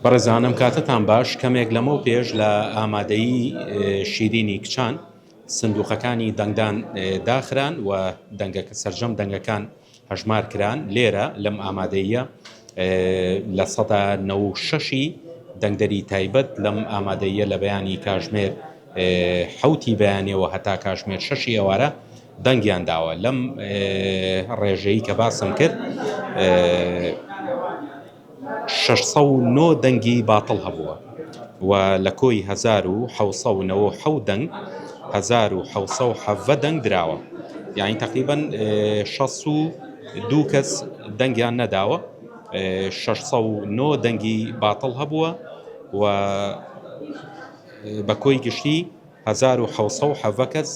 بەڕێزانم کاتتان باش کەمێک لەمەو پێش لە ئامادەیی شیرینی کچان سندوقەکانی دەنگدان داخران و دەنگە سەرجەم دەنگەکان هەژمار کران لێرە لەم ئامادەیە لە سەدا نەوشەشی دەنگدەری تایبەت لەم ئامادەیە لە بەیانی کاژمێر حەوتی بەیانیە و هەتا کاشمێر شەشی ئێوارە دەنگیان داوە لەم ڕێژەی کە باسم کرد شەش سەد و نۆ دەنگی باتڵ هەبووە و لە کۆی هەزار و حەوت سەد و نەوە و حەوت دەنگ هەزار و حەوت سەد و حەڤدە دەنگ دراوە یانی تەقریبەن شەست و دوو کەس دەنگیان نەداوە شەش سەد و نۆ دەنگی باتڵ هەبووە و بە کۆی گشتی هەزار و حەوت سەد و حەڤە کەس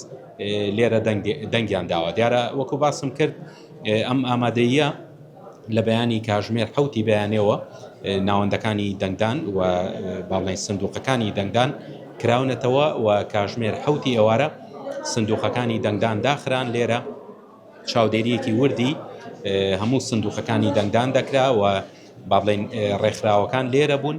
لێرە دەنگیان داوە. دیارە وەکو باسم کرد ئەم ئامادەییە لە بەیانی کاژمێر حەوتی بەیانێوە ناوەندەکانی دەنگدان و باڵنەی سندوقەکانی دەنگدان کراونەتەوە و کاژمێر حەوتی ئێوارە سندوقەکانی دەنگدان داخران لێرە چاودێریەکی وردی هەموو سندوقەکانی دەنگدان دەکرا و با بڵێن ڕێکخراوەکان لێرە بوون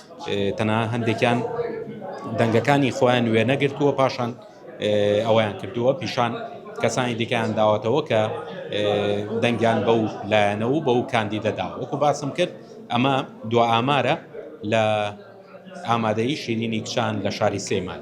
تەنها هەندێکیان دەنگەکانی خۆیان وێنەگرتووە پاشان ئەوەیان کردووە پیشان کەسانی دیکەیان داوەتەوە کە دەنگیان بەو لایەنە و بەو کاندیدەدا وەکو باسم کرد ئەمە دو ئامارە لە ئامادەی شیرینی کچان لە شاری سلێمان.